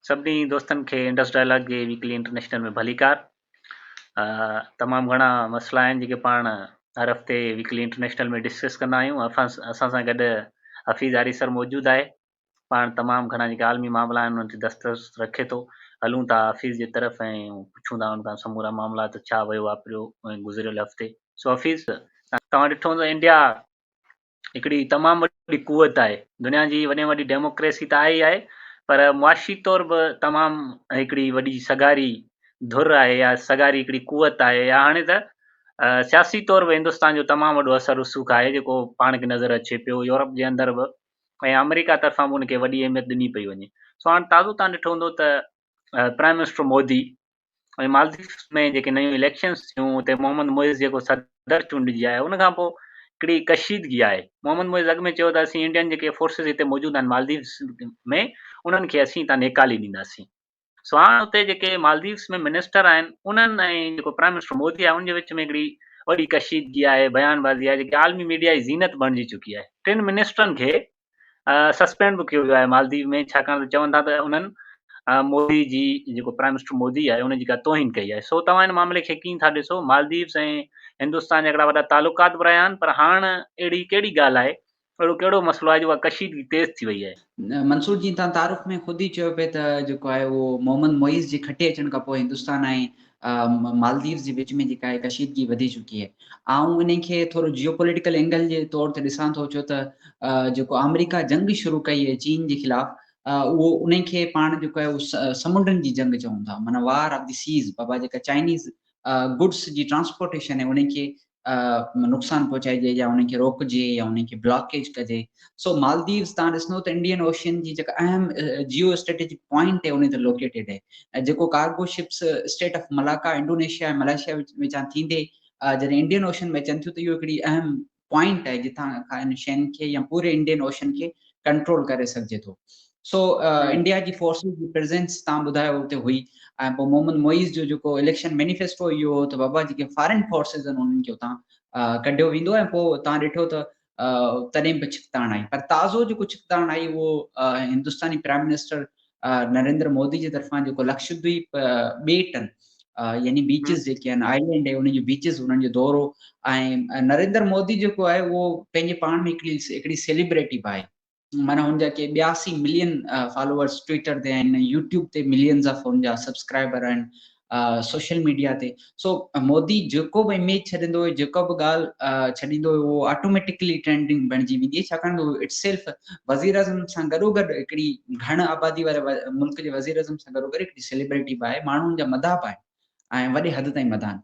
سڀني دوستن کي انڊس ڊائلاگ جي ويڪلي انٽرنيشنل ۾ ڀليڪار تمام گهڻا مسئلا آهن جيڪي پاڻ هر هفتي ويڪلي انٽرنيشنل ۾ ڊسڪس ڪندا آهيون اسان سان گڏ حفيظ آري سر موجود آهي پاڻ تمام گهڻا جيڪي عالمي معاملا آهن انهن تي دسترس رکي ٿو هلون ٿا حفيظ جي طرف ۽ پڇون ٿا ان کان سمورا معاملا ته ڇا ويو واپريو ۽ گذريل هفتي سو حفيظ توهان ڏٺو هوندو انڊيا هڪڙي تمام وڏي قوت آهي دنيا جي وڏي ۾ وڏي ڊيموڪريسي ته آهي ئي آهي پر معاشي طور به تمام هڪڙي وڏي سگهاري ڌر آهي يا سگهاري هڪڙي قوت آهي يا هاڻي ته سياسي طور به هندستان جو تمام وڏو اثر رسوخ آهي جيڪو پاڻ کي نظر اچي پيو يورپ جي اندر به ۽ آمريڪا طرفان به ان کي وڏي اهميت ڏني پئي وڃي سو هاڻي تازو تان ڏٺو هوندو ته پرائم منسٽر مودي ۽ مالديپس ۾ جيڪي نيون اليڪشنز ٿيون اتي محمد معز جيڪو صدر چونڊجي آيو ان کان پوء ڪڙي ڪشيدگي آئي محمد معز اڳ ۾ چيو ته اسين انڊين جيڪي فورسز هتي موجود آهن مالديپس ۾ انهن کي اسين هتان نيڪالي ڏينداسين سو هاڻ اتي جيڪي مالديپس ۾ منسٽر آهن انهن ۽ جيڪو پرائم منسٽر مودي آهي ان جي وچ ۾ هڪڙي وڏي ڪشيدگي آهي بيان بازي آهي جيڪي عالمي ميڊيا جي زينت بڻجي چڪي آهي ٽن منسٽرن کي سسپينڊ به ڪيو ويو آهي مالديپ ۾ ڇاڪاڻ ته چون ٿا ته انهن مودي جي جيڪو پرائم منسٽر مودي آهي ان جي ڪا توهين ڪئي آهي سو توهان ان معاملي کي ڪيئن ٿا ڏسو مالديپس ۽ هندستان جا هڪڙا وڏا تعلقات به رهيا آهن پر هاڻ اهڙي ڪهڙي ڳالهه آهي اهڙو ڪهڙو مسئلو آهي جو اها ڪشيدگي تيز ٿي وئي آهي. منصور جي تان تعارف ۾ خود ئي چيو پئي ته جيڪو آهي اهو محمد معيز جي کٽي اچڻ کان پوء هندستان ۽ ۽ مالديوز جي وچ ۾ جيڪا آهي ڪشيدگي وڌي چڪي آهي آئون انهي کي ٿورو جيو پوليٽيڪل اينگل جي طور تي ڏسان ٿو ڇو ته جيڪو آمريڪا جنگ شروع ڪئي آهي چين جي خلاف اهو انهي کي پاڻ جيڪو آهي اهو سمنڊن جي جنگ چون ٿا معنيٰ وار آف دي سيز بابا جيڪا چائنيز گڊس جي ٽرانسپورٽيشن آهي انهي کي نقصان پهچائجي يا انهن کي روڪجي يا انهن کي بلاڪيج ڪجي سو مالديوز تان ڏسندو ته انڊين اوشين جي جيڪا اهم جيو اسٽريٽجڪ پوائنٽ هي ان تي لوڪيٽيڊ هي ۽ جيڪو cargo ships state of Malacca Indonesia ۽ Malaysia وچان ٿيندي جڏهن انڊين اوشن ۾ اچن ٿيون ته اهو هڪڙي اهم پوائنٽ آهي جتان کان ان شين کي يا پوري انڊين اوشن کي ڪنٽرول ڪري سگهجي ٿو سو انڊيا جي فورسز جي پريزنس تان ٻڌايو اتي هئي ۽ پوء محمد معيز جو جيڪو اليڪشن مينيفيسٽو اهو هو ته بابا جيڪي فارين فورسز آهن انهن کي اتان ڪڍيو ويندو ۽ پوء تان ڏٺو ته تڏهن به ڇڪتاڻ آئي پر تازو جيڪو ڇڪتاڻ آئي اهو هندستاني پرائم منسٽر نريندر مودي جي طرفان جيڪو لڪشدويپ ٻيٽن يعني بيچز جيڪي آهن آئلينڊ انهن جو بيچز انهن جو دورو ۽ نريندر مودي جيڪو آهي اهو پنهنجي پاڻ ۾ هڪڙي هڪڙي سيليبريٽي به آهي معنيٰ هن جا ڪي ٻيا سي ملين فالوورز ٽوئيٽر تي آهن، يوٽيوب تي ملينز آف هن جا سبسڪرائبر آهن، سوشل ميڊيا تي سو مودي جيڪو به اميج ڇڏيندو هو جيڪا به ڳالهه ڇڏيندو هو اهو آٽوميٽڪلي ٽرينڊنگ بڻجي ويندي هئي ڇاڪاڻ ته هو اٽ سيلف وزيراعظم سان گڏو گڏ هڪڙي گهڻ آبادي واري ملڪ جي وزيراعظم سان گڏو گڏ هڪڙي سيليبرٽي به آهي ماڻهو هن جا مداح به آهن. ۽ وڏي حد تائين مدان.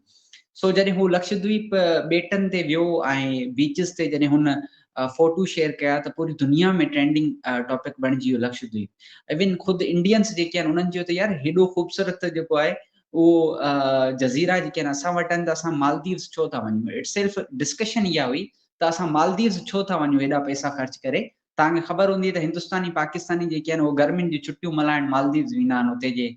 سو جڏهن هو لڪشدويپ ٻيٽن تي ويو ۽ بيچز تي جڏهن هن فوٽو شيئر ڪيا ته پوري دنيا ۾ ٽرينڊنگ ٽاپڪ بڻجي ويو لڪشدويپ. ايون خود انڊينس جيڪي آهن انهن چيو ته يار هيڏو خوبصورت جيڪو آهي اهو جزيرا جيڪي آهن اسان وٽ آهن ته اسان مالديوز ڇو ٿا وڃون. اٽسيلف ڊسڪشن اها هئي ته اسان مالديوز ڇو ٿا وڃون هيڏا پئسا خرچ ڪري توهان کي خبر هوندي ته هندستاني پاڪستاني جيڪي آهن اهي گرمين جون ڇٽيون ملهائڻ مالديوز ويندا آهن اتي جي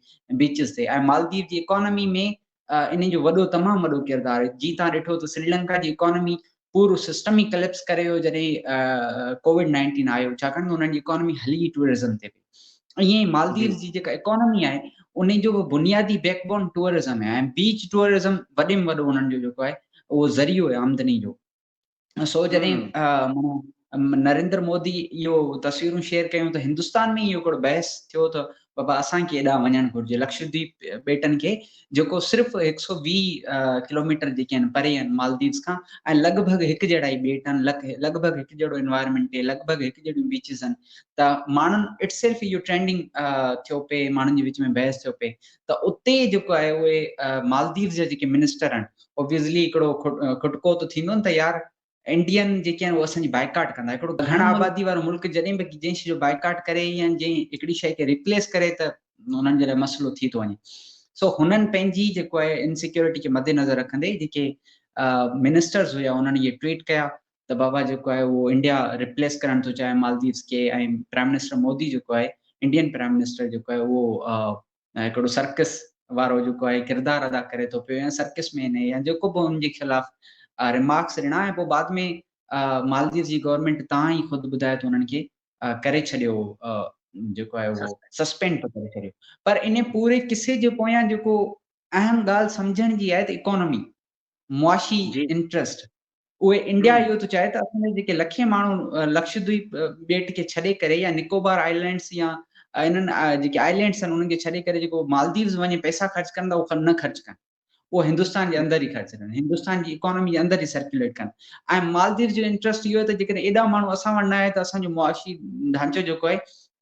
بيچز تي ۽ مالديو جي اڪانومي ۾ انهن جو وڏو تمام وڏو ڪردار آهي جي توهان ڏٺو ته سريلنڪا جي اڪانومي پورو سسٽم ئي ڪليپس ڪري ويو جڏهن ڪوويڊ نائنٽين آيو ڇاڪاڻ ته انهن جي اڪانومي هلي ئي ٽوئرزم تي پئي ائين ئي مالديوز جي جيڪا اڪانومي آهي انهن جو به بنيادي بيڪ بون ٽوئرزم آهي ۽ بيچ ٽوئرزم وڏي ۾ وڏو انهن جو جيڪو آهي اهو ذريعو آهي آمدني جو سو جڏهن نريندر مودي اهو تصويرون شيئر ڪيون ته هندستان ۾ اهو هڪڙو بحث ٿيو ته بابا اسان کي ايڏا وڃڻ گهرجي لڪشديپ ٻيٽن کي جيڪو صرف هڪ سو ويهه ڪلوميٽر جيڪي آهن پري آهن مالديوز کان ۽ لڳ ڀڳ هڪ جهڙا ئي ٻيٽ آهن لڳ ڀڳ هڪ جهڙو انوائرمنٽ لڳ ڀڳ هڪ جهڙيون بيچز آهن ته ماڻهن اٽ سيلف اهو ٽرينڊنگ ٿيو پئي ماڻهن جي وچ ۾ بحث ٿيو پئي ته اتي جيڪو آهي اهي مالديوز جا جيڪي منسٽر آهن اوبويسلي هڪڙو کٽڪو ته ٿيندو نه ته يار انڊين جيڪي آهن اهي اسان جي بائيڪاٽ ڪندا هڪڙو گهڻ آبادي وارو ملڪ جڏهن به جنهن شي جو بائيڪاٽ ڪري يا جنهن هڪڙي شي کي ريپليس ڪري ته انهن جي لاء مسئلو ٿي ٿو وڃي سو هنن پنهنجي جيڪو آهي انسيڪيورٽي کي مدنظر رکندي جيڪي منسٽرز هيا انهن اهي ٽويٽ ڪيا ته بابا جيڪو آهي اهو انڊيا ريپليس ڪرڻ ٿو چاهي مالديوز کي ۽ پرائم منسٽر مودي جيڪو آهي انڊين پرائم منسٽر جيڪو آهي اهو هڪڙو سرڪس وارو جيڪو آهي ڪردار ادا ڪري ٿو پيو يا سرڪس مين آهي يا جيڪو به ان جي خلاف ريمارڪس ڏنا ۽ پوء بعد ۾ مالديوز جي گورنمينٽ تان ئي خود ٻڌايو ته انهن کي ڪري ڇڏيو جيڪو آهي اهو سسپينڊ ٿو ڪري ڇڏيو پر ان پوري قصي جي پويان جيڪو اهم ڳالهه سمجهڻ جي آهي ته اڪانومي معاشي انٽرسٽ اهي انڊيا اهو ٿو چاهي ته اسان جا جيڪي لکين ماڻهو لڪشدويپ ٻيٽ کي ڇڏي ڪري يا نڪوبار آئلينڊس يا انهن جيڪي آئلينڊس آهن انهن کي ڇڏي ڪري جيڪو مالديوز وڃي پئسا خرچ ڪن ٿا اهو نه خرچ ڪن اهو هندستان جي اندر ئي خرچ ڪن هندستان جي اڪانومي جي اندر ئي سرڪيوليٽ ڪن ۽ مالديوز جو انٽرسٽ اهو آهي ته جيڪڏهن ايڏا ماڻهو اسان وٽ نه آهي ته اسانجو معاشي ڍانچو جيڪو آهي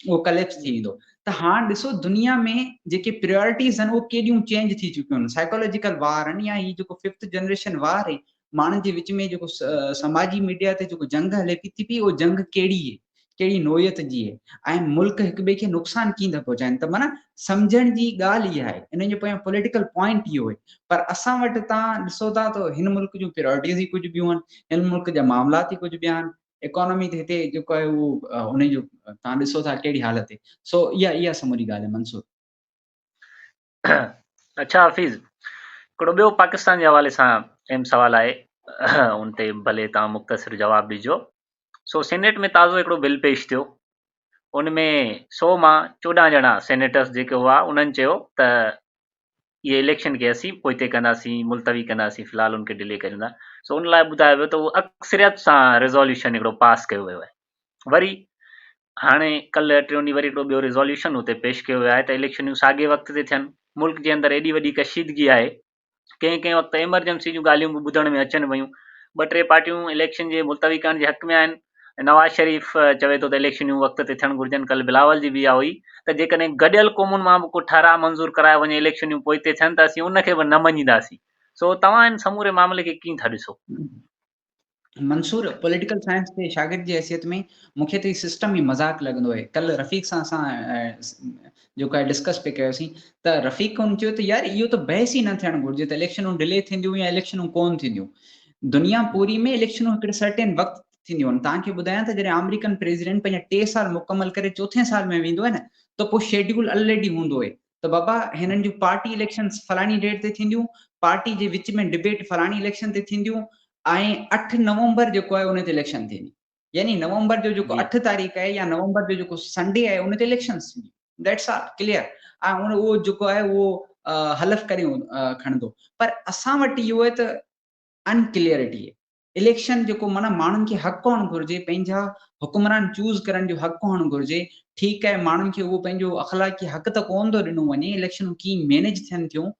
اهو ڪليپس ٿي ويندو ته هاڻ ڏسو دنيا ۾ جيڪي پريارٽيز آهن اهو ڪيڏيون چينج ٿي چڪيون آهن سائيڪالاجيڪل وار آهن يا هي جيڪو ففٿ جنريشن وار آهي ماڻهن جي وچ ۾ جيڪو سماجي ميڊيا تي جيڪو جنگ هلي پي ٿي پي اهو جنگ ڪهڙي آهي ڪهڙي نوعيت جي آهي ۽ ملڪ هڪ ٻئي کي نقصان ڪيئن ٿا پهچائن ته معنی سمجهڻ جي ڳالهه اها آهي ان جو پويان پوليٽيڪل پوائنٽ اهو آهي پر اسان وٽ تان ڏسو ٿا ته هن ملڪ جون پريارٽيز ئي ڪجهه ٻيون آهن هن ملڪ جا معاملات ئي ڪجهه ٻيا آهن اڪانومي تي هتي جيڪو آهي اهو ان جو توهان ڏسو ٿا ڪهڙي حالت تي سو اها اها سموري ڳالهه آهي منصور اچھا حفيظ هڪڙو ٻيو پاڪستان جي حوالي سان اهم سوال آهي ان تي ڀلي توهان مختصر جواب ڏجو سو سينيٽ ۾ تازو هڪڙو بل پيش ٿيو ان ۾ سو مان چوڏهن ڄڻا سينيٽرس جيڪي هئا انهن چيو ته اهي اليڪشن کي اسين پوئتي ڪنداسين ملتوي ڪنداسين في الحال ان کي ڊلي ڪريون ٿا سو ان لاء ٻڌايو ويو ته اهو اڪثريت سان ريزوليوشن هڪڙو پاس ڪيو ويو آهي وري هاڻي ڪلهه ٽيون ڏينهن وري هڪڙو ٻيو ريزوليوشن اتي پيش ڪيو ويو آهي ته اليڪشنون ساڳي وقت تي ٿين ملڪ جي اندر ايڏي وڏي ڪشيدگي آهي ڪنهن ڪنهن وقت ايمرجنسي جون ڳالهيون به ٻڌڻ ۾ اچن پيون ٻه ٽي پارٽيون اليڪشن جي ملتوي ڪرڻ جي حق ۾ آهن ۽ نواز شريف چوي ٿو ته اليڪشنيون وقت تي ٿيڻ گهرجن، ڪلهه بلاول جي به اها هئي ته جيڪڏهن گڏيل قومن مان به ڪو ٺهراء منظور ڪرايو وڃي اليڪشنيون پوئتي ٿين ته اسين ان کي به نه مڃينداسين، سو توهان ان سموري معاملي کي ڪيئن ٿا ڏسو؟ منصور، پوليٽيڪل سائنس جي شاگرد جي حيثيت ۾ مون کي ته هي سسٽم ئي مذاق لڳندو آهي، ڪلهه رفيق سان اسان جيڪو آهي ڊسڪس پي ڪيوسين ته رفيق ڪون چيو ته يار اهو ته بحث ئي نه ٿيڻ گهرجي ته اليڪشنون ڊلي ٿينديون يا اليڪشنون ڪون ٿينديون دنيا پوري ۾ اليڪشنون هڪڙي سرٽين وقت ٿينديون آهن تان کي ٻڌايان ته جڏهن آمريڪن پريزيڊنٽ پنهنجا ٽي سال مڪمل ڪري چوٿين سال ۾ ويندو آهي نه ته پوء شيڊيول الريڊي هوندو آهي ته بابا هنن جون پارٽي اليڪشنس فلاڻي ڊيٽ تي ٿينديون پارٽي جي وچ ۾ ڊبيٽ فلاڻي اليڪشن تي ٿينديون ۽ اٺ نومبر جيڪو آهي ان تي اليڪشن ٿيندي يعني نومبر جو جيڪو جي. اٺ تاريخ آهي يا نومبر جو جيڪو سنڊي آهي ان تي اليڪشنس ٿينديون ذيٽس آل ڪليئر ۽ ان اهو جيڪو آهي اهو حلف ڪريون کڻندو پر اسان وٽ اهو آهي ته ان ڪليئرٽي اليڪشن جيڪو معنيٰ ماڻهن کي حق هئڻ گهرجي پنهنجا حڪمران چوز ڪرڻ جو حق هئڻ گهرجي ٺيڪ آهي ماڻهن کي اهو پنهنجو اخلاقي حق ته ڪونه ٿو ڏنو وڃي اليڪشنون ڪيئن مينيج ٿين ٿيون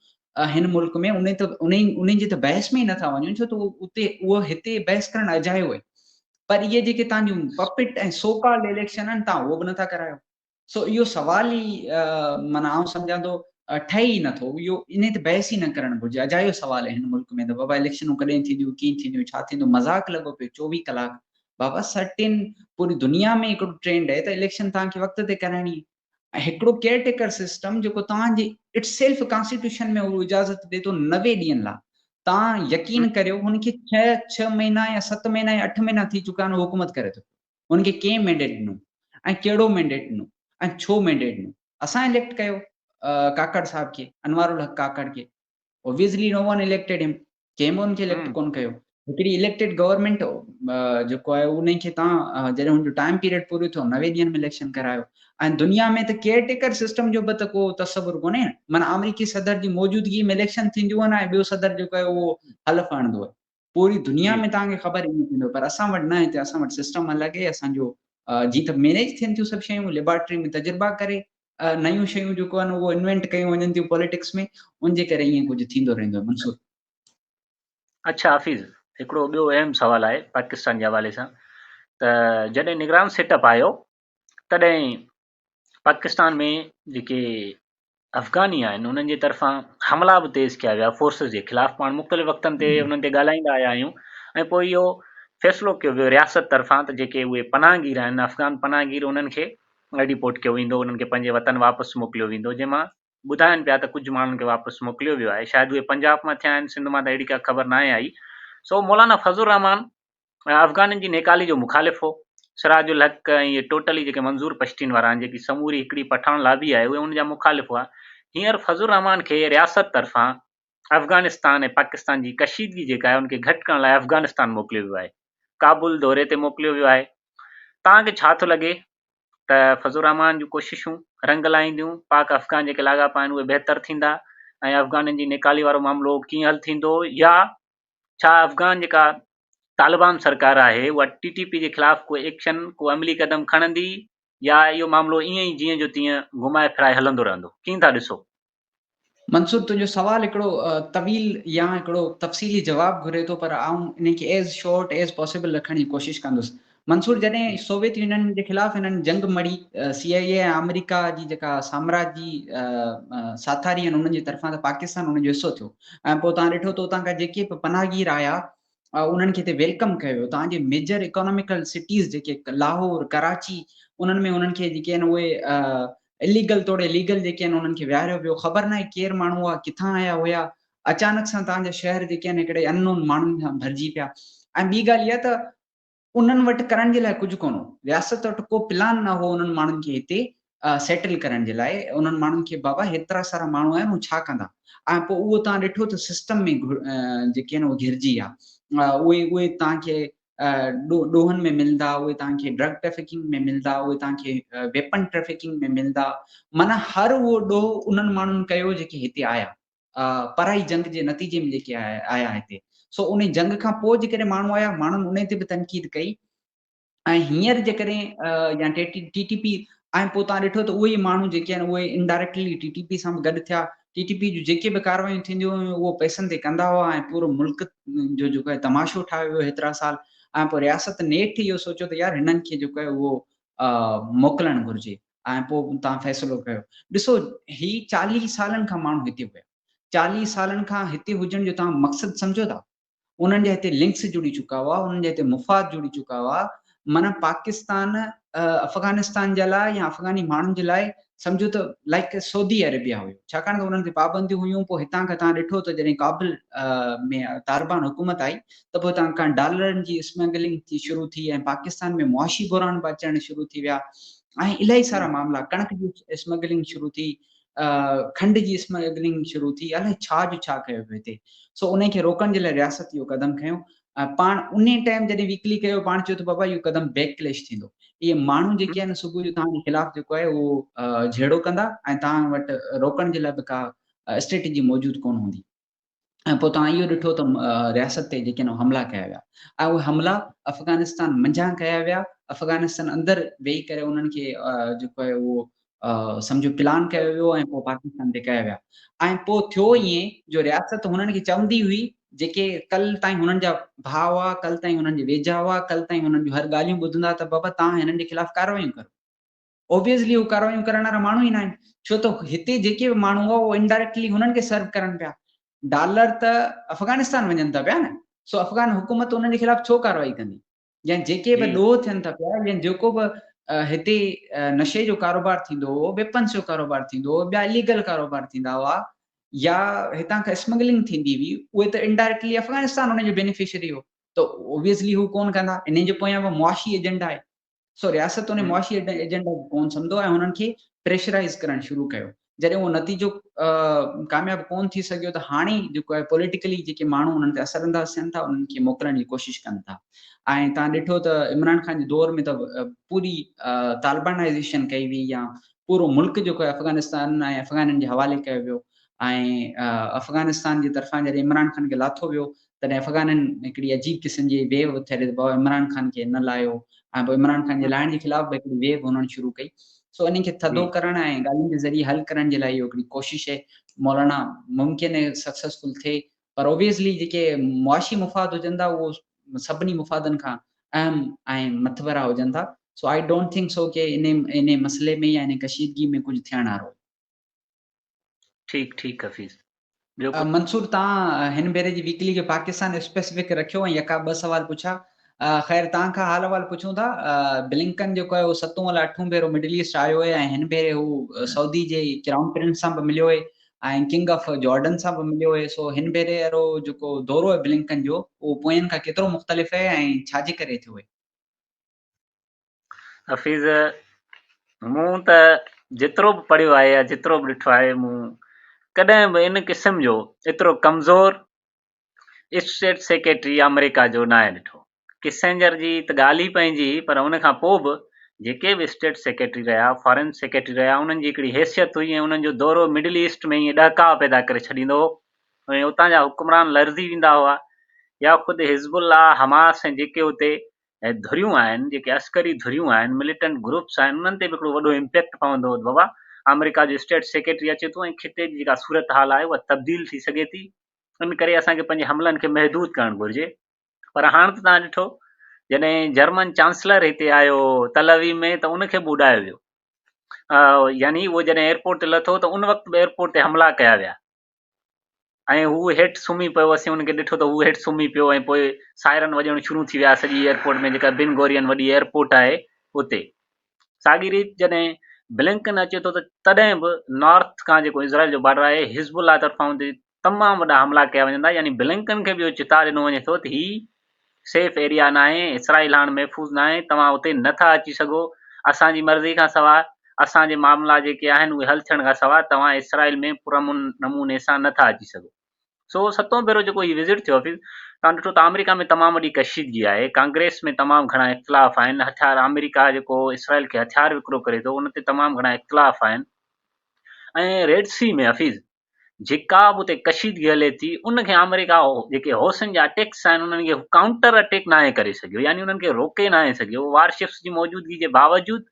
هن ملڪ ۾ انهن ته انهن انهن جي ته بحث ۾ ئي نٿا وڃن ڇو ته اتي اهو هتي بحث ڪرڻ اجايو آهي پر اهي جيڪي تان جون پپٽ ۽ سوڪال اليڪشن آهن تان اهو به نٿا ڪرايو سو اهو سوال ئي من آئون سمجهان ٿو ٺهي ئي نٿو اهو انهي ته بحث ئي نه ڪرڻ گهرجي اجايو سوال آهي هن ملڪ ۾ ته بابا اليڪشنون ڪڏهن ٿينديون ڪيئن ٿينديون ڇا ٿيندو مذاق لڳو پيو چوويهه ڪلاڪ بابا سرٽين پوري دنيا ۾ هڪڙو ٽرينڊ آهي ته اليڪشن تان کي وقت تي ڪرائڻي ۽ هڪڙو ڪيئر ٽيڪر سسٽم جيڪو توهان جي اٽ سيلف ڪانسٽيٽيوشن ۾ اهو اجازت ڏي ٿو نوي ڏينهن لا توهان يقين ڪريو هن کي ڇهه ڇهه مهينا يا ست مهينا يا اٺ مهينا ٿي چڪا آهن هو حڪومت ڪري ٿو پيو هن کي ڪنهن مينڊيٽ ڏنو ۽ ڪهڙو مينڊيٽ ڏنو ۽ ڇو مينڊيٽ ڏنو اسان اليڪٽ ڪيو ڪاڪڙ صاحب کي انوار الحق ڪاڪڙ کي obviously no one elected him ڪنهن به ان کي اليڪٽ ڪون ڪيو هڪڙي اليڪٽيڊ گورنمينٽ جيڪو آهي ان کي تان جڏهن هن جو ٽائيم پيريڊ پورو ٿيو نوي ڏينهن ۾ اليڪشن ڪرايو ۽ دنيا ۾ ته ڪيئر ٽيڪر سسٽم جو به ته ڪو تصور ڪونهي معنی آمريڪي صدر جي موجودگي ۾ اليڪشن ٿينديون آهن ۽ ٻيو صدر جيڪو آهي اهو حلف هڻندو آهي پوري دنيا جي ۾ توهان کي خبر ائين ٿيندو پر اسان وٽ نه هتي اسان وٽ سسٽم الڳ هي اسان جو جي ته مينيج ٿين ٿيون سڀ شيون ليبارٽري ۾ تجربا ڪري نيون شيون جيڪو آهن اهو انوينٽ ڪيون وڃن ٿيون پوليٽڪس ۾ ان جي ڪري ائين ڪجهه ٿيندو رهندو آهي منصور اچھا حافظ هڪڙو ٻيو اهم سوال آهي پاڪستان جي حوالي سان ته جڏهن نگران سيٽ اپ آيو تڏهن پاڪستان ۾ جيڪي افغاني آهن انهن جي طرفان حملا به تيز ڪيا ويا فورسز جي خلاف پاڻ مختلف وقتن تي انهن تي ڳالهائيندا آيا آهيون ۽ پوء اهو فيصلو ڪيو ويو رياست طرفان ته جيڪي اهي پناهگير آهن افغان پناهگير انهن کي ڊيپورٽ ڪيو ويندو انهن کي پنهنجي وطن واپس موڪليو ويندو جنهن مان ٻڌائن پيا ته ڪجهه ماڻهن کي واپس موڪليو ويو آهي شايد اهي پنجاب مان ٿيا آهن سنڌ مان ته اهڙي ڪا خبر ناهي آئي سو مولانا فضل الرحمان افغانن جي نيڪالي جو مخالف هو. سراج الحق ۽ اهي ٽوٽلي جيڪي منظور پشتين وارا آهن جيڪي سموري هڪڙي پٺاڻ لابي آهي اهي ان جا مخالف هئا. هينئر فضل الرحمان کي رياست طرفان افغانستان ۽ پاڪستان جي ڪشيدگي جيڪا آهي ان کي گهٽ ڪرڻ لاء افغانستان موڪليو ويو آهي. ڪابل دوري تي موڪليو ويو آهي. توهان کي ڇا ٿو لڳي ته فضل الرحمان جون ڪوششون رنگ لائينديون؟ پاڪ افغان جيڪي لاڳاپا آهن اهي بهتر ٿيندا ۽ افغانن جي نيڪالي وارو معاملو ڪيئن حل ٿيندو يا ڇا افغان جيڪا طالبان سرڪار آهي اها ٽي ٽي پي جي خلاف ڪو ايڪشن ڪو عملي قدم کڻندي يا اهو معاملو ائين ئي جيئن جو تيئن گهمائي ڦرائي هلندو رهندو ڪيئن ٿا ڏسو؟ منصور تنهنجو سوال هڪڙو طويل يا هڪڙو تفصيلي جواب گهري ٿو پر آئون انهي کي as short as possible رکڻ جي ڪوشش ڪندس منصور جڏهن سوويت يونين جي خلاف هنن جنگ مڙهي، سي آء اي ۽ آمريڪا جي جيڪا سامراجي ساٿاري آهن انهن جي طرفان ته پاڪستان ان جو حصو ٿيو ۽ پوء توهان ڏٺو ته اتان کان جيڪي به پناهگير آيا انهن کي هتي ويلڪم ڪيو ويو توهان جي ميجر اڪاناميڪل سٽيز جيڪي لاهور، ڪراچي انهن ۾ انهن کي جيڪي آهن اهي اليگل توڙي ليگل جيڪي آهن انهن کي ويهاريو ويو خبر ناهي ڪير ماڻهو هئا ڪٿان آيا هيا اچانڪ سان توهان جا شهر جيڪي آهن هڪڙي ان نون ماڻهن سان ڀرجي پيا ۽ ٻي ڳالهه اها ته انهن وٽ ڪرڻ جي لاء ڪجهه ڪونه هو. رياست وٽ ڪو پلان نه هو انهن ماڻهن کي هتي سيٽل ڪرڻ جي لاء. انهن ماڻهن کي بابا هيترا سارا ماڻهو آهن هو ڇا ڪندا؟ ۽ پوء اهو توهان ڏٺو ته سسٽم ۾ جيڪي آهن اهي گهرجي ويا. اهي اهي توهان کي ڏوهن ۾ ملندا، اهي توهان کي ڊرگ ٽريفڪنگ ۾ ملندا، اهي توهان کي ويپن ٽريفڪنگ ۾ ملندا. معنيٰ هر اهو ڏوهه انهن ماڻهن ڪيو جيڪي هتي آيا. پرائي جنگ جي نتيجي ۾ جيڪي آيا آيا هتي سو انهي جنگ کان پوء جيڪڏهن ماڻهو آيا ماڻهن انهي تي به تنقيد ڪئي ۽ هينئر جيڪڏهن يا ٽي ٽي پي ۽ پوء تان ڏٺو ته اهي ماڻهو جيڪي آهن اهي انڊائريڪٽلي ٽي ٽي پي سان به گڏ ٿيا ٽي ٽي پي جون جيڪي به ڪاروايون ٿينديون هيون اهو پئسن تي ڪندا هئا ۽ پورو ملڪ جو جيڪو آهي تماشو ٺاهيو ويو هيترا سال ۽ پوء رياست نيٺ اهو سوچيو ته يار هنن کي جيڪو آهي اهو موڪلڻ گهرجي ۽ پوء توهان فيصلو ڪيو. ڏسو هي چاليهه سالن کان ماڻهو هتي هيا. چاليهه سالن کان هتي هجڻ جو توهان مقصد سمجهو ٿا؟ انهن جا هتي لنڪس جڙي چڪا هئا، انهن جا هتي مفاد جڙي چڪا هئا. معنيٰ پاڪستان افغانستان جي لاء يا افغاني ماڻهن جي لاء سمجهو ته لائيڪ سعودي عربيا هيو. ڇاڪاڻ ته انهن تي پابنديون هيون. پوء هتان کان توهان ڏٺو ته جڏهن ڪابل ۾ طالبان حڪومت آئي ته پوء هتان کان ڊالرن جي اسمگلنگ شروع ٿي ۽ پاڪستان ۾ معاشي بحران به اچڻ شروع ٿي ويا. ۽ الائي سارا معاملا ڪڻڪ جي اسمگلنگ شروع ٿي کنڊ جي اسمگلنگ شروع ٿي الائي ڇا جو ڇا ڪيو پيو هتي سو انهي کي روڪڻ جي لاء رياست اهو قدم کنيو پاڻ انهي ٽائيم جڏهن ويڪلي ڪيو پاڻ چيو ته بابا اهو قدم بيڪ ڪليش ٿيندو اهي ماڻهو جيڪي آهن صبح جو توهان جي خلاف جيڪو آهي اهو جهيڙو ڪندا ۽ توهان وٽ روڪڻ جي لاء به ڪا اسٽريٽجي موجود ڪون هوندي ۽ پوء توهان اهو ڏٺو ته رياست تي جيڪي نو حملا ڪيا ويا ۽ اهي حملا افغانستان منجهان ڪيا ويا افغانستان اندر ويهي ڪري انهن کي جيڪو آهي اهو سمجهو پلان ڪيو ويو ۽ پوء پاڪستان تي ڪيا ويا ۽ پوء ٿيو ائين جو رياست هنن کي چوندي هئي جيڪي ڪل تائين هنن جا ڀاء هئا ڪل تائين هنن جي ويجها هئا ڪل تائين هنن جون هر ڳالهيون ٻڌندا ته بابا تان هنن جي خلاف ڪاروايون ڪرو Obviously هو ڪارروايون ڪرڻ وارا ماڻهو ئي ناهن ڇو ته هتي جيڪي به ماڻهو هئا اهو Indirectly هنن کي Serve ڪرن پيا. ڊالر ته افغانستان وڃن ٿا پيا نه سو افغان حڪومت انهن جي خلاف ڇو ڪارروائي ڪندي يا جيڪي به ڏوهه ٿين ٿا پيا يا جيڪو به هتي نشي جو ڪاروبار ٿيندو هو Weapons جو ڪاروبار ٿيندو هو ٻيا Illegal ڪاروبار ٿيندا هئا يا هتان کان Smuggling ٿيندي هئي اهي ته Indirectly افغانستان انهن جو Beneficiary هو ته Obviously هو ڪونه ڪندا انهن جي پويان به معاشي Agenda آهي سو رياست انهي معاشي ايجنڊا کي ڪون سمڌو ۽ هنن کي پريشرائيز ڪرڻ شروع ڪيو. جڏهن اهو نتيجو ڪامياب ڪون ٿي سگهيو ته هاڻي جيڪو آهي پوليٽيڪلي جيڪي ماڻهو انهن تي اثر انداز ٿين ٿا انهن کي موڪلڻ جي ڪوشش ڪن ٿا ۽ تان ڏٺو ته عمران خان جي دور ۾ ته پوري طالبانائيزيشن ڪئي وئي يا پورو ملڪ جيڪو آهي افغانستان ۽ افغانن جي حوالي ڪيو ويو ۽ افغانستان جي طرفان جڏهن عمران خان کي لاٿو ويو تڏهن افغانن هڪڙي عجيب قسم جي ويو اٿاري ته بابا عمران خان کي نه لاهيو ۽ پوء عمران خان جي لاهڻ جي خلاف به هڪڙي ويو هنڻ شروع ڪئي سو انهن کي ٿڌو ڪرڻ ۽ ڳالهين جي ذريعي حل ڪرڻ جي لاء اهو هڪڙي ڪوشش هي مولانا ممڪن هي سڪسيسفل ٿئي پر اوبيسلي جيڪي معاشي مفاد هجن ٿا اهو سڀني مفادن کان اهم ۽ مٿڀرا هجن ٿا so I don't think so ڪي انهي انهي مسئلي ۾ يا انهي ڪشيدگي ۾ ڪجهه ٿيڻ هارو ٺيڪ ٺيڪ حفيظ ٻيو ڪجهه. منصور تان هن ڀيري جي ويڪلي کي پاڪستان اسپيسفڪ رکيو ۽ يڪا ٻه سوال پڇا خير تان کان حال احوال پڇون ٿا بلنڪن جيڪو آهي اهو ستون الا اٺون ڀيرو مڊل ايسٽ آيو آهي ۽ هن ڀيري هو سعودي جي ڪرائون پرنس سان به مليو آهي ۽ ڪنگ آف جارڊن سان به مليو آهي سو هن ڀيري اهرو جيڪو دورو آهي بلنڪن جو اهو پوئين کان ڪيترو مختلف آهي ۽ ڇا جي ڪري ٿيو آهي حفيظ، مون ته جيترو به پڙهيو آهي يا جيترو به ڏٺو آهي مون ڪڏهن به ان قسم جو ايترو ڪمزور اسٽيٽ سيڪريٽري آمريڪا جو ناهي ڏٺو. ڪسنجر جي ته ڳالهه ئي پنهنجي هئي پر ان کان پوء به جيڪي به اسٽيٽ سيڪريٽري رهيا، فارن سيڪريٽري رهيا انهن جي هڪڙي حيثيت هئي ۽ انهن جو دورو مڊل ايسٽ ۾ ائين ڏهڪاء پيدا ڪري ڇڏيندو هو ۽ اتان جا حڪمران لرزي ويندا هئا يا خود حزب الله، حماس ۽ جيڪي اتي ۽ ڌريون آهن جيڪي عسڪري ڌريون آهن مليٽنٽ گروپس آهن انهن تي به هڪڙو وڏو امپيڪٽ پوندو بابا آمريڪا جو اسٽيٽ سيڪريٽري اچي ٿو ۽ خطي جي جيڪا صورتحال آهي اها تبديل ٿي سگهي ٿي ان ڪري اسان کي پنهنجي حملن کي محدود ڪرڻ گهرجي پر هاڻ ته تان ڏٺو جڏهن جرمن چانسلر هتي آيو تلوي ۾ ته ان کي به اڏايو ويو يعني اهو جڏهن ايئرپورٽ تي لٿو ته ان وقت به ايئرپورٽ تي حملا ڪيا ويا ۽ هو هيٺ سمهي پيو، اسين هن کي ڏٺو ته هو هيٺ سمهي پيو ۽ پوء سائرن وڄڻ شروع ٿي ويا سڄي ايئرپورٽ ۾ جيڪا بن گورين وڏي ايئرپورٽ آهي اتي. ساڳي ريت جڏهن بلنڪن اچي ٿو ته تڏهن به نارٿ کان جيڪو اسرائيل جو بارڊر آهي حزب الله طرفان اتي تمام وڏا حملا ڪيا وڃن ٿا يعني بلنڪن کي به اهو چتاء ڏنو وڃي ٿو ته هي سيف ايريا ناهي، اسرائيل هاڻ محفوظ ناهي، توهان اتي نه ٿا اچي سگهو، اسان جي مرضي کان سواء، اسان جي معاملا جيڪي آهن اهي حل ٿيڻ کان سواء توهان اسرائيل ۾ پرامن نموني سان نه ٿا اچي سگهو. سو ستون ڀيرو جيڪو هي وزٽ ٿيو حفيظ، توهان ڏٺو ته آمريڪا ۾ تمام وڏي ڪشيدگي آهي، ڪانگريس ۾ تمام گهڻا اختلاف آهن، هٿيار آمريڪا جيڪو اسرائيل کي هٿيار وڪرو ڪري ٿو ان تي تمام گهڻا اختلاف آهن ۽ ريڊ سي ۾ حفيظ، جيڪا به اتي ڪشيدگي هلي ٿي ان کي آمريڪا جيڪي حوثين جا اٽيڪس آهن انهن کي ڪائونٽر اٽيڪ ناهي ڪري سگهيو يعني انهن کي روڪي ناهي سگهيو وار شپس جي موجودگي جي باوجود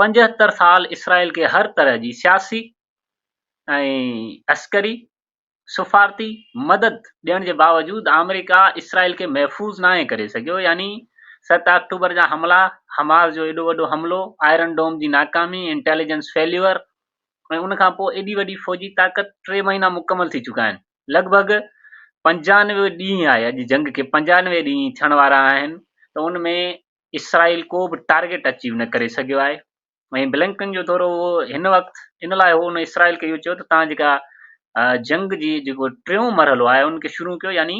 پنجهتر سال اسرائيل کي هر طرح جي سياسي ۽ عسڪري سفارتي مدد ڏيڻ جي باوجود آمريڪا اسرائيل کي محفوظ ناهي ڪري سگهيو يعني ست آڪٽوبر جا حملا حماس جو ايڏو وڏو حملو آئرن ڊوم جي ناڪامي انٽيليجنس فيليور ۽ ان کان پوء ايڏي وڏي فوجي طاقت ٽي مهينا مڪمل ٿي چڪا آهن لڳ ڀڳ پنجانوي ڏينهن آهي اڄ جنگ کي پنجانوي ڏينهن ٿيڻ وارا آهن ته ان ۾ اسرائيل ڪو به ٽارگيٽ اچيو نه ڪري سگهيو آهي ۽ بلنڪن جو دورو اهو هن وقت ان لاء هو ان اسرائيل کي اهو چيو ته تان جيڪا جنگ جي جيڪو ٽيون مرحلو آهي ان کي شروع ڪيو يعني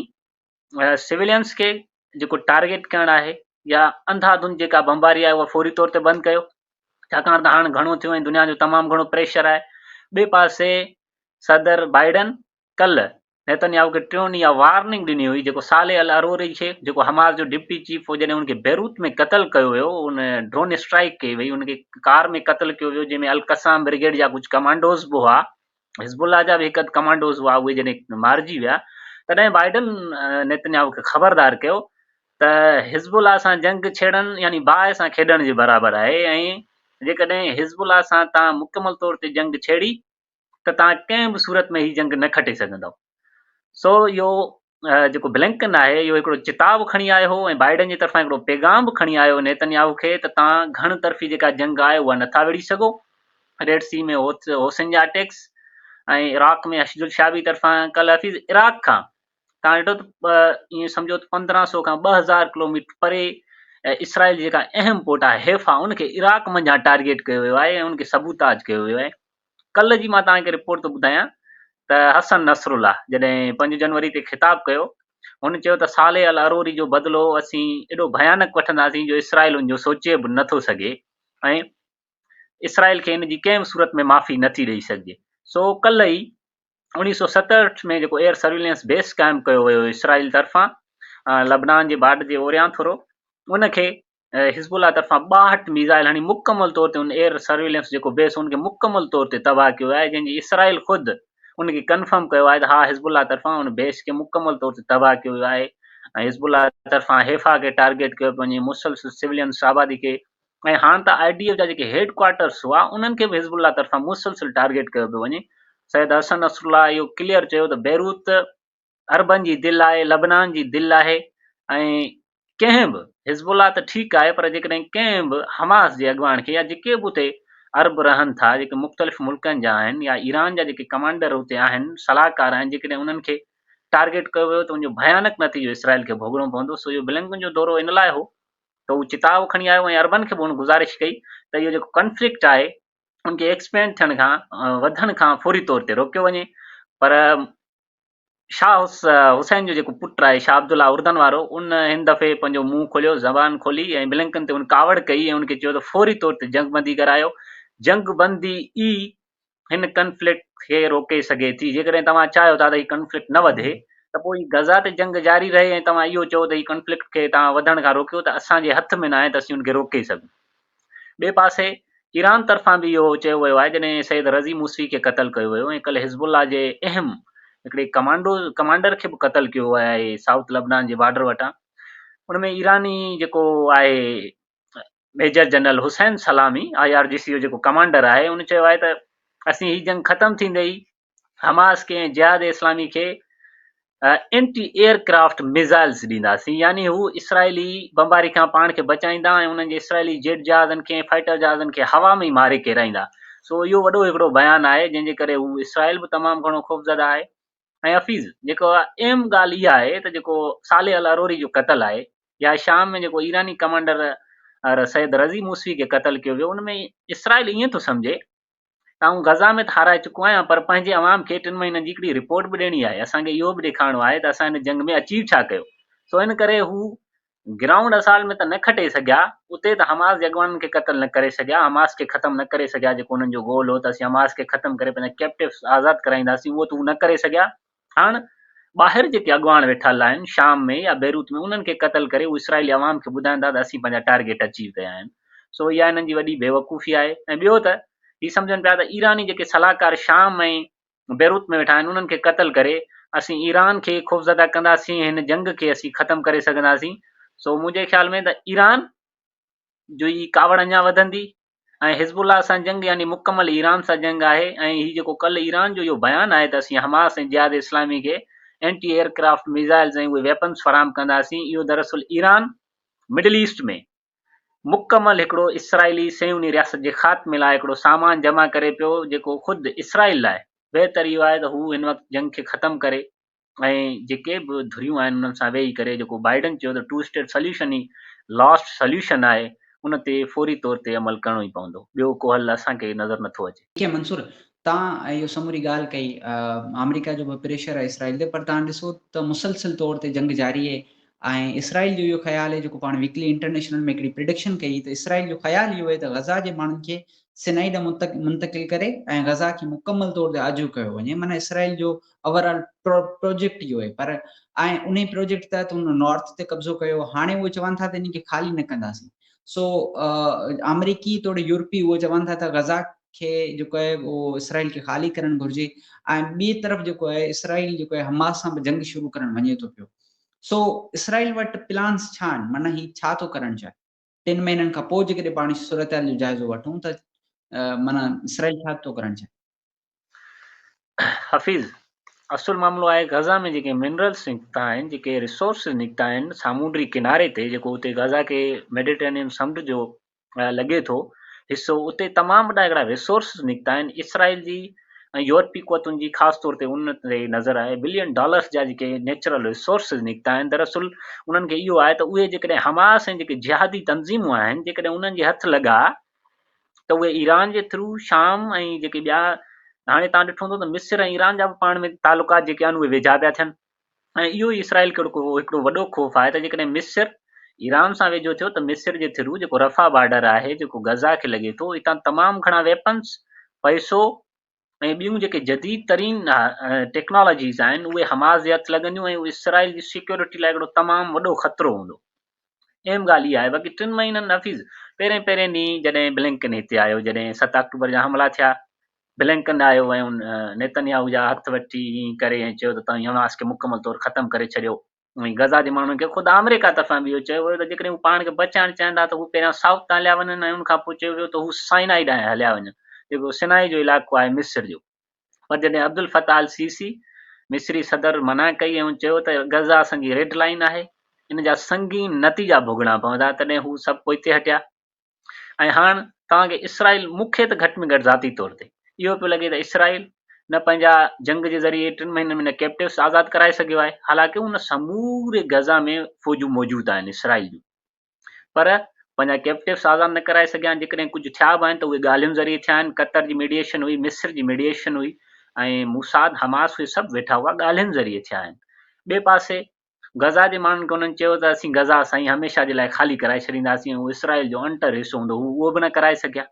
سويلينز کي جيڪو ٽارگيٽ ڪرڻ آهي يا انڌا ڌن جيڪا بمباري آهي اها فوري طور تي بند ڪيو ڇاڪاڻ ته هاڻ گهڻو ٿيو ۽ دنيا جو تمام گهڻو پريشر آهي ٻي پاسي صدر بائيڊن ڪل نيتنياهو کي ٽيون ڏينهن اها وارننگ ڏني هئي جيڪو صالح العروري کي جيڪو حماس جو ڊپٽي چيف هو جڏهن ان کي بيروت ۾ قتل ڪيو ويو ان ڊرون اسٽرائيڪ ڪئي وئي ان کي ڪار ۾ قتل ڪيو ويو جنهن ۾ القسام برگيڊ جا ڪجهه ڪمانڊوز به هئا حزب الله جا به هڪ اڌ ڪمانڊوز هئا اهي جڏهن مارجي ويا تڏهن بائيڊن نيتنياهو کي خبردار ڪيو ته حزب الله سان جنگ ڇيڙڻ يعني باهه سان کيڏڻ جي برابر آهي ۽ جيڪڏهن حزب الله سان توهان مڪمل طور تي جنگ ڇيڙي ته توهان ڪنهن به صورت ۾ هي جنگ نه کٽي سگهندؤ سو اهو جيڪو بلنڪن آهي اهو هڪڙو چتاء به کڻي آيو هو ۽ بائيڊن جي طرفان هڪڙو پيغام به کڻي آيو هو نيتنياهو کي ته توهان گهڻ طرفي جيڪا جنگ آهي اها نٿا وڙهي سگهو ريڊ سي ۾ حوثين جا اٽيڪس ۽ عراق ۾ اشد الشعبي طرفان ڪل حفيظ عراق کان توهان ڏٺو ته ائين سمجهو ته پندرهن سو کان ٻه هزار ڪلوميٽر پري اسرائيل جيڪا اهم پورٽ آهي حيفا ان کي عراق منجهان ٽارگيٽ ڪيو ويو آهي ۽ ان کي سبوتاج ڪيو ويو آهي ڪلهه جي مان توهان کي رپورٽ ٿو ٻڌايان ته حسن نصرالله جڏهن پنج جنوري تي خطاب ڪيو هن چيو ته صالح العروري جو بدلو اسين ايڏو ڀيانڪ وٺنداسين جو اسرائيل ان جو سوچي به نٿو سگهي ۽ اسرائيل کي ان جي ڪنهن به صورت ۾ معافي نٿي ڏئي سگهجي سو ڪلهه ئي اوڻيهه سؤ ستهٺ ۾ جيڪو ايئر سرويلنس بيس قائم ڪيو ويو اسرائيل طرفان لبنان جي بارڊر جي اوريان ٿورو ان کي حزب الله طرفان ٻاهٺ ميزائل هڻي مڪمل طور تي ان ايئر سرويلنس جيڪو بيس ان کي مڪمل طور تي تباهه ڪيو آهي جنهن جي اسرائيل خود ان کي ڪنفرم ڪيو آهي ته ها حزب الله طرفان ان بيس کي مڪمل طور تي تباهه ڪيو ويو آهي ۽ حزب الله طرفان حيفا کي ٽارگيٽ ڪيو پيو وڃي مسلسل سولينس آبادي کي ۽ هاڻ ته آئي ڊي ايف جا جيڪي هيڊ ڪوارٽرس هئا انهن کي به حزب الله طرفان مسلسل ٽارگيٽ ڪيو پيو وڃي سيد حسن نصرالله اهو ڪليئر چيو ته بيروت عربن جي دل آهي، لبنان جي دل آهي ۽ ڪنهن به حزب الله ته ٺيڪ آهي پر جيڪڏهن ڪنهن به حماس جي اڳواڻ کي يا جيڪي به اتي عرب رهن ٿا جيڪي مختلف ملڪن جا آهن يا ايران جا جيڪي ڪمانڊر اتي آهن صلاحڪار آهن جيڪڏهن انهن کي ٽارگيٽ ڪيو ويو ته ان جو ڀيانڪ نتيجو اسرائيل کي ڀوڳڻو پوندو سو اهو بلنڪن جو دورو ان لاء هو ته هو چتاء کڻي آيو ۽ عربن کي به هن گذارش ڪئي ته اهو جيڪو ڪنفلڪٽ آهي ان کي ايڪسپينڊ ٿيڻ کان وڌڻ کان فوري طور تي روڪيو وڃي پر شاهه حسين جو جيڪو پٽ آهي شاهه عبدالله اردن وارو ان هن دفعي پنهنجو منهن کوليو، زبان کولي ۽ بلنڪن تي هن ڪاوڙ ڪئي ۽ هن کي چيو ته فوري طور تي جنگ بندي ڪرايو، جنگ بندي ئي هن ڪنفلڪٽ کي روڪي سگهي ٿي، جيڪڏهن توهان چاهيو ٿا ته هي ڪنفلڪٽ نه وڌي ته پوء هي غزه تي جنگ جاري رهي ۽ توهان اهو چئو ته هي ڪنفلڪٽ کي توهان وڌڻ کان روڪيو ته اسان جي هٿ ۾ ناهي ته اسين ان کي روڪي سگهون. ٻئي پاسي ايران طرفان به اهو چيو ويو آهي جڏهن سيد رضي موسوي کي قتل ڪيو ويو ۽ ڪلهه حزب الله جي اهم هڪڙي ڪمانڊو ڪمانڊر کي به قتل ڪيو ويو آهي سائوٿ لبنان جي بارڊر وٽان ان ۾ ايراني جيڪو آهي ميجر جنرل حسين سلامي آء آر جي سي جو جيڪو ڪمانڊر آهي ان چيو آهي ته اسين هي جنگ ختم ٿيندي ئي حماس کي ۽ جهاد اسلامي کي انٽي ايئر ڪرافٽ ميزائلز ڏينداسين يعني هو اسرائيلي بمباري کان پاڻ کي بچائيندا ۽ انهن جي اسرائيلي جيٽ جهازن کي ۽ فائٽر جهازن کي هوا ۾ ئي ماري ڪيرائيندا سو اهو وڏو هڪڙو بيان آهي جنهن جي ڪري هو اسرائيل به تمام گهڻو خوفزده آهي ۽ حفيظ جيڪو اهم ڳالهه اها آهي ته جيڪو صالح الاروري جو قتل آهي يا شام ۾ جيڪو ايراني ڪمانڊر سيد رضي موسوي کي قتل ڪيو ويو ان ۾ اسرائيل ائين ٿو سمجهي ته آئون غزا ۾ ته هارائي چڪو آهيان پر پنهنجي عوام کي ٽن مهينن جي هڪڙي رپورٽ به ڏيڻي آهي اسان کي اهو به ڏيکارڻو آهي ته اسان هن جنگ ۾ اچيو ڇا ڪيو سو ان ڪري هو گرائونڊ اسالٽ ۾ ته نه کٽي سگهيا اتي ته حماس جي اڳواڻن کي قتل نه ڪري سگهيا حماس کي ختم نه ڪري سگهيا جيڪو انهن جو گول هو ته اسين حماس کي ختم ڪري پنهنجا ڪيپٽوس آزاد ڪرائينداسين اهو ته هو نه ڪري سگهيا هاڻ ٻاهر جيڪي اڳواڻ ويٺل آهن شام ۾ يا بيروت ۾ انهن کي قتل ڪري هو اسرائيلي عوام کي ٻڌائيندا ته اسين پنهنجا ٽارگيٽ اچيو ڪيا آهن سو اها هنن جي وڏي بيوقوفي آهي ۽ ٻيو ته هي سمجهن پيا ته ايراني جيڪي صلاحڪار شام ۽ بيروت ۾ ويٺا آهن انهن کي قتل ڪري اسين ايران کي خوفزده ڪنداسين هن جنگ کي اسين ختم ڪري سگهنداسين سو منهنجي خيال ۾ ته ايران جو هي ڪاوڙ اڃا وڌندي ۽ حزب الله سان جنگ يعني مڪمل ايران سان جنگ آهي ۽ هي جيڪو ڪلهه ايران جو اهو بيان آهي ته اسين حماس ۽ جهاد اسلامي کي اينٽي ايئر ڪرافٽ ميزائلز ۽ اهي ويپنز فراهم ڪنداسين اهو دراصل ايران مڊل ايسٽ ۾ مڪمل هڪڙو اسرائيلي صهيوني رياست جي خاتمي لاء هڪڙو سامان جمع ڪري پيو جيڪو خود اسرائيل لاء بهتر اهو آهي ته هو هن وقت جنگ کي ختم ڪري ۽ جيڪي به ڌريون آهن انهن سان ويهي ڪري جيڪو بائيڊن چيو ته ٽو اسٽيٽ سليوشن ئي لاسٽ سليوشن آهي ان تي فوري طور تي عمل ڪرڻو ئي پوندو ٻيو ڪو حل اسان کي نظر نٿو اچي. کي منصور تان اهو سموري ڳالهه ڪئي آمريڪا جو به پريشر آهي اسرائيل تي پر تان ڏسو ته مسلسل طور تي جنگ جاري اهي ۽ اسرائيل جو اهو خيال اهي جيڪو پاڻ ويڪلي انٽرنيشنل ۾ هڪڙي پريڊڪشن ڪئي ته اسرائيل جو خيال اهو اهي ته غزا جي ماڻهن کي سنائي ڏانهن منتقل ڪري ۽ غزا کي مڪمل طور تي آجو ڪيو وڃي معنيٰ اسرائيل جو اوور آل پروجيڪٽ اهو آهي پر ۽ انهي پروجيڪٽ تحت هن نارٿ تي قبضو ڪيو هاڻي اهي چون ٿا ته انهي کي خالي نه ڪنداسين سو آمريڪي توڙي يورپي اهو چون ٿا ته غزا کي جيڪو آهي اهو اسرائيل کي خالي ڪرڻ گهرجي ۽ ٻي طرف جيڪو آهي اسرائيل جيڪو آهي حماس سان به جنگ شروع ڪرڻ وڃي ٿو پيو سو اسرائيل وٽ پلانس ڇا آهن معنيٰ هي ڇا ٿو ڪرڻ چاهي ٽن مهينن کان پوء جيڪڏهن پاڻ صورتحال جو جائزو وٺون ته معنيٰ اسرائيل ڇا ٿو ڪرڻ چاهي؟ حفيظ، اصل معاملو آهي غزه ۾ جيڪي منرلس نڪتا آهن، جيڪي ريسورسز نڪتا آهن سامونڊي ڪناري تي جيڪو اتي غزه کي ميڊيٽرينين سمنڊ جو لڳي ٿو حصو اتي تمام وڏا هڪڙا ريسورسز نڪتا آهن اسرائيل جي ۽ يورپي قوتن جي خاص طور تي ان تي نظر آهي بلين ڊالرس جا جيڪي نيچرل ريسورسز نڪتا آهن دراصل انهن کي اهو آهي ته اهي جيڪڏهن حماس ۽ جيڪي جهادي تنظيمون آهن جيڪڏهن انهن جي هٿ لڳا ته اهي ايران جي ٿرو شام ۽ جيڪي ٻيا هاڻي تان ڏٺو هوندو ته مصر ۽ ايران جا به پاڻ ۾ تعلقات جيڪي آهن اهي ويجها پيا ٿين ۽ اهو ئي اسرائيل کي هڪڙو وڏو خوف آهي ته جيڪڏهن مصر ايران سان ويجهو ٿيو ته مصر جي ٿرو جيڪو رفح بارڊر آهي جيڪو غزه کي لڳي ٿو اتان تمام گهڻا ويپنز، پئسو ۽ ٻيون جيڪي جديد ترين ٽيڪنالاجيز آهن اهي حماس جي هٿ لڳنديون ۽ اهو اسرائيل جي سيڪيورٽي لاء هڪڙو تمام وڏو خطرو هوندو. اهم ڳالهه اها آهي باقي ٽن مهينن نفيس پهرين پهرين ڏينهن جڏهن بلنڪن هتي آيو جڏهن ست آڪٽوبر جا حملا ٿيا بلنڪن آيو ۽ ان نيتنياهو جا هٿ وٺي ائين ڪري ۽ چيو ته توهين حماس کي مڪمل طور ختم ڪري ڇڏيو ۽ غزا جي ماڻهن کي خود آمريڪا طرفان به اهو چيو ويو ته جيڪڏهن هو پاڻ کي بچائڻ چاهين ٿا ته هو پهريان سائوٿ تان هليا وڃن ۽ ان کان پوء چيو ويو ته هو سائنائي ڏانهن هليا وڃن جيڪو سنائي جو علائقو آهي مصر جو پر جڏهن عبدالفتاح السيسي مصري صدر منع ڪئي ۽ هن چيو ته غزه اسان جي ريڊ لائين آهي، ان جا سنگين نتيجا ڀوڳڻا پوندا، تڏهن هو سڀ پوئتي هٽيا ۽ هاڻ توهان کي اسرائيل مون کي ته گهٽ ۾ گهٽ ذاتي طور تي اهو پيو لڳي ته اسرائيل نه پنهنجا جنگ جي ذريعي ٽن مهينن ۾ نه ڪيپٽوس آزاد ڪرائي سگهيو آهي، حالانڪه ان سموري غزه ۾ فوجون موجود آهن اسرائيل جون. پر پنهنجا ڪيپٽوس آزاد نه ڪرائي سگهيا آهن، جيڪڏهن ڪجهه ٿيا به آهن ته اهي ڳالهين ذريعي ٿيا آهن، قطر جي ميڊيئيشن هئي، مصر جي ميڊيئيشن هئي ۽ موساد، حماس اهي سڀ ويٺا هئا، ڳالهين ذريعي ٿيا آهن. ٻئي پاسي غزه جي ماڻهن کي انهن چيو ته اسين غزه سائين هميشه جي لاء خالي ڪرائي ڇڏينداسين ۽ اهو اسرائيل جو انٽر حصو هوندو، هو اهو به نه ڪرائي سگهيا،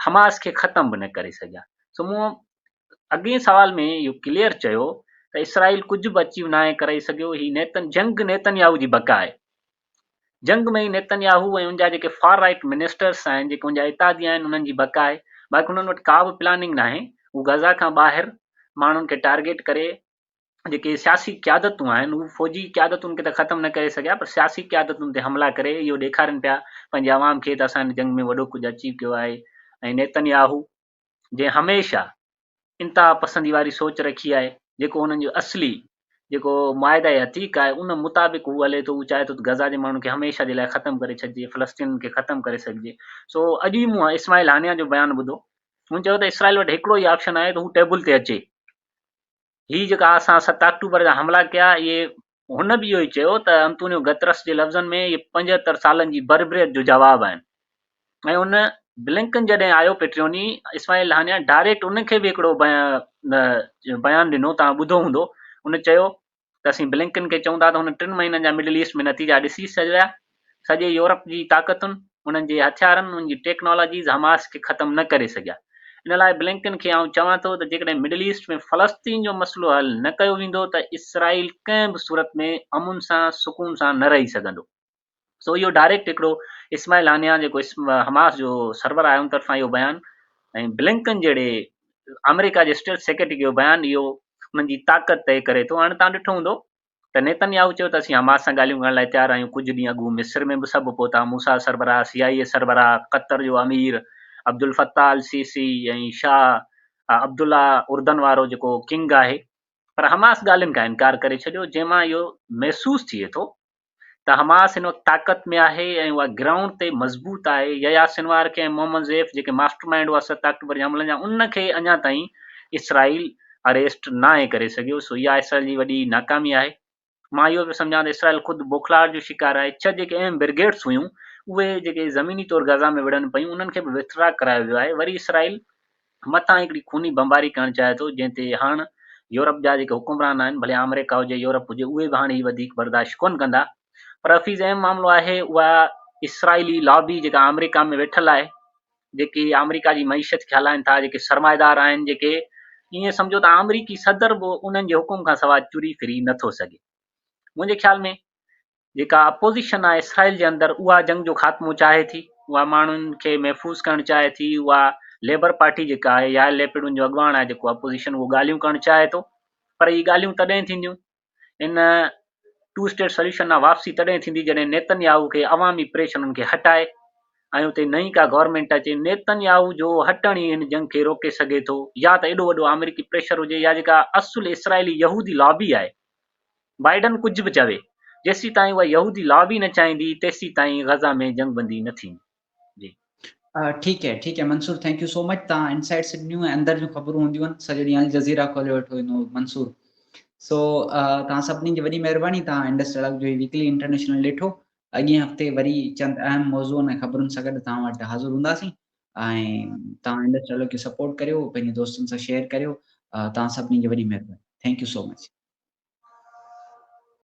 حماس کي ختم به نه ڪري سگهيا. سو مون اڳئين سوال ۾ اهو ڪليئر چيو ته اسرائيل ڪجهه به اچيو ناهي ڪرئي سگهيو هي نيتن جنگ نيتن ياهو جي بقا آهي جنگ ۾ ئي نيتن ياهو ۽ ان جا جيڪي فار رائيٽ منسٽرس آهن جيڪي ان جا اتحادي آهن انهن جي بقا آهي باقي انهن وٽ ڪا به پلاننگ ناهي هو غزا کان ٻاهر ماڻهن کي ٽارگيٽ ڪري جيڪي سياسي قيادتون آهن هو فوجي قيادتن کي ته ختم نه ڪري سگهيا پر سياسي قيادتن تي حملا ڪري اهو ڏيکارين پيا پنهنجي عوام کي ته اسان جي جنگ ۾ وڏو ڪجهه اچي پيو آهي ۽ نيتن ياهو جنهن هميشه انتها پسندي واري سوچ رکي آهي جيڪو هنن جو اصلي جيڪو معاهده عتيق آهي ان مطابق هو هلي ٿو هو چاهي ٿو ته غزا جي ماڻهن کي هميشه جي لاء ختم ڪري ڇڏجي فلسطينين کي ختم ڪري سگهجي سو اڄ ئي مون اسماعيل هانيا جو بيان ٻڌو هن چيو ته اسرائيل وٽ هڪڙو ئي آپشن آهي ته هو ٽيبل تي اچي هي جيڪا اسان ست آڪٽوبر جا حملا ڪيا، اهي هن به اهو ئي چيو ته انتونيو گترس جي لفظن ۾ اهي پنجهتر سالن جي بربريت جو جواب آهن ۽ ان بلنڪن جڏهن آيو پيٽريوني اسماعيل هانيا ڊائريڪٽ ان کي به هڪڙو بيان ڏنو توهان ٻڌو هوندو ان چيو ته اسين بلنڪن کي چئون ٿا ته هن ٽن مهينن جا مڊل ايسٽ ۾ نتيجا ڏسي ڇڏيا سڄي يورپ جي طاقتن، انهن جي هٿيارن، انهن جي ٽيڪنالاجيز حماس کي ختم نه ڪري سگهيا. ان لاء بلنڪن کي آئون چوان ٿو ته جيڪڏهن مڊل ايسٽ ۾ فلسطين جو مسئلو حل نه ڪيو ويندو ته اسرائيل ڪنهن به صورت ۾ امن سان سڪون سان نه رهي سگهندو. سو اهو ڊائريڪٽ هڪڙو اسماعيل هانيا جيڪو حماس جو سربراهه آهي ان طرفان اهو بيان ۽ بلنڪن جهڙي آمريڪا جي اسٽيٽ سيڪريٽري جو بيان اهو انهن جي طاقت طئي ڪري ٿو. هاڻ توهان ڏٺو هوندو ته نيتن ياهو چيو ته اسين حماس سان ڳالهيون ڪرڻ لاء تيار آهيون، ڪجهه ڏينهن اڳ هو مصر ۾ به سڀ پهتا، موساد سربراهه، سي آء اي سربراهه، قطر جو امير عبدالفتاح السيسي ۽ شاهه عبدالله اردن وارو جيڪو ڪنگ آهي، پر حماس ڳالهين کان انڪار ڪري ڇڏيو، جنهن مان اهو محسوس ٿئي ٿو ته حماس هن وقت طاقت ۾ آهي ۽ اها گرائونڊ تي مضبوط آهي، يحيٰ سنوار کي ۽ محمد زيف جيڪي ماسٽر مائينڊ هئا ست آڪٽوبر جي حملن جا ان کي اڃا تائين اسرائيل اريسٽ ناهي ڪري سگهيو سو اها اسرائيل جي وڏي ناڪامي آهي مان اهو پيو سمجهان ته اسرائيل خود بوکلاهٽ جو شڪار آهي ڇهه جيڪي اهم برگيڊس هيون اهي جيڪي زميني طور غزا ۾ وڙهن پيون انهن کي به وٿڙا ڪرايو ويو آهي وري اسرائيل مٿان هڪڙي خوني بمباري ڪرڻ چاهي ٿو جنهن تي هاڻ يورپ جا جيڪي حڪمران آهن ڀلي آمريڪا هجي يورپ هجي اهي به هاڻ هي وڌيڪ برداشت ڪونه ڪندا پر حفيظ اهم معاملو آهي اها اسرائيلي لابي جيڪا آمريڪا ۾ ويٺل آهي جيڪي آمريڪا جي معيشت کي هلائين ٿا، جيڪي سرمائيدار آهن، جيڪي ائين سمجهو ته آمريڪي صدر به انهن جي حڪم کان سواء چري ڦري نه ٿو سگهي. منهنجي خيال ۾ جيڪا اپوزيشن آهي اسرائيل جي اندر اها جنگ جو خاتمو چاهي ٿي، اها ماڻهن کي محفوظ ڪرڻ چاهي ٿي، اها ليبر پارٽي جيڪا آهي يائر ليپڊ ان جو اڳواڻ آهي جيڪو اپوزيشن اهو ڳالهيون ڪرڻ چاهي ٿو پر اهي ڳالهيون تڏهن ٿينديون ان ٽو اسٽيٽ سليوشن ڏانهن واپسي تڏهن ٿيندي جڏهن نيتن ياهو کي عوامي پريش انهن کي هٽائي ۽ اتي نئين ڪا گورنمينٽ اچي نيتن ياهو جو هٽڻ ئي ان جنگ کي روڪي سگهي ٿو يا ته ايڏو وڏو آمريڪي پريشر هجي يا جيڪا اصل اسرائيلي يهودي لابي آهي بائيڊن ڪجهه به چوي جيسيتائين اها يهودي لابي نه چاهيندي تيسيتائين غزه ۾ جنگ بندي نه ٿيندي. جي ٺيڪ هي ٺيڪ هي Mansoor thank you so much تان انسائيڊ سنڌ نيو ۽ اندر جون خبرون هونديون آهن سڄو ڏينهن الجزيره کولي ويٺو هوندو منصور سو تان سڀني جي وڏي مهرباني تان انڊس سڙڪ جو ويڪلي انٽرنيشنل ڏٺو اڳين هفتي وري چند اهم موضوعن ۽ خبرن سان گڏ تان وٽ حاضر هونداسين ۽ تان انڊس سڙڪ کي سپورٽ ڪريو پنهنجي دوستن سان شيئر ڪريو تان سڀني جي وڏي مهرباني ٿينڪ يو سو مچ